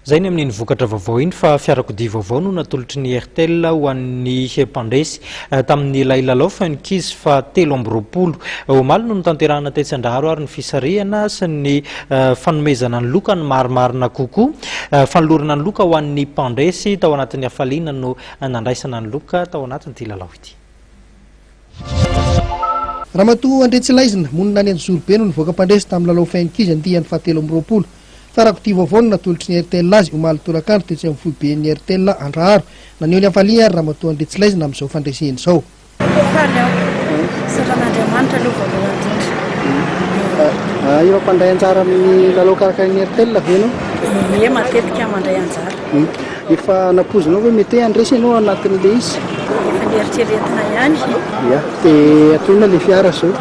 Izay ny amin'iny vokatra vaovao iny fa fiarakodia vaovao no natolotry ny Airtel ho an'ny mpandresy eh, tamin'ilay lalao Funkies fa telo amby roapolo. Eh, omaly no notanterahana tetsy Andraharo ary ny fisarihana sy ny eh, fanomezana ny loka ny marimarina kokoa. Fanolorana ny loka ho an'ny mpandresy tao anatin'ny hafaliana no nandraisana ny loka tao anatin'ity lalao ity. Ramatoa Andriatsilaizina, monina any Anjozorobe no nivoaka mpandresy tamin'ny lalao Fy ankizy andiany fahatelo amby roapolo. Fa rakodia vaovao no natolotry ny rtl azy, omaly tolakandro, tetsy amin'ny foiben'ny rtl Andraharo. Naneho ny hafaliany ary Ramatoa Andriatsilaizina amin'izao fandreseny izao. Tena faly aho. Satan'Andriamanitra aloha voalohany indrindra. Efa mpandray anjara amin'ny lalao karakarain'ny rtl ve ianao? Ie, matetika mandray anjara. Efa nampoizinao ve mety hoe handresy ianao anatin'ilay izy? Efa neritreretina ihany. Ia. Dia atao inona ilay fiara izao?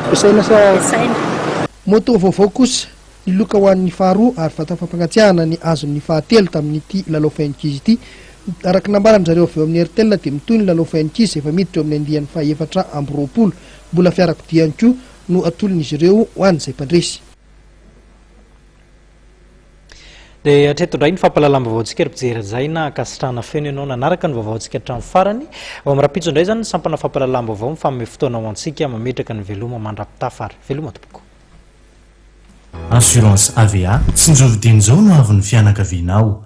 Ampiasaina sa? Ampiasaina. Moto vaovao kosa, ny loka ho an'ny faharoa ary vata fampangatsiahana ny azon'ny fahatelo tamin'ity lalao fain'ankizy ity. Araka ny nambaran-dry zareo avy eo amin'ny Airtel dia mitohy ny lalao fain'ankizy efa miditra eo amin'ny andiany fahaefatra amby roapolo. Mbola fiarakodia ihany koa no atolon'izy ireo ho an'izay mpandresy. Dia hatreto indray ny fampahalalam-baovaontsika ry mpijery izay na ankasitrahana feno ianao nanaraka ny vaovaontsika hatramin'ny farany. Ao amin'ny rapitso indray izany ny sampana fampahalalam-baovao mifanome fotoana ho antsika mametraka ny veloma mandra-pitafa ary veloma tompoko. Assurance AVA, tsinjovy dieny izao no avin'ny fianakavianao.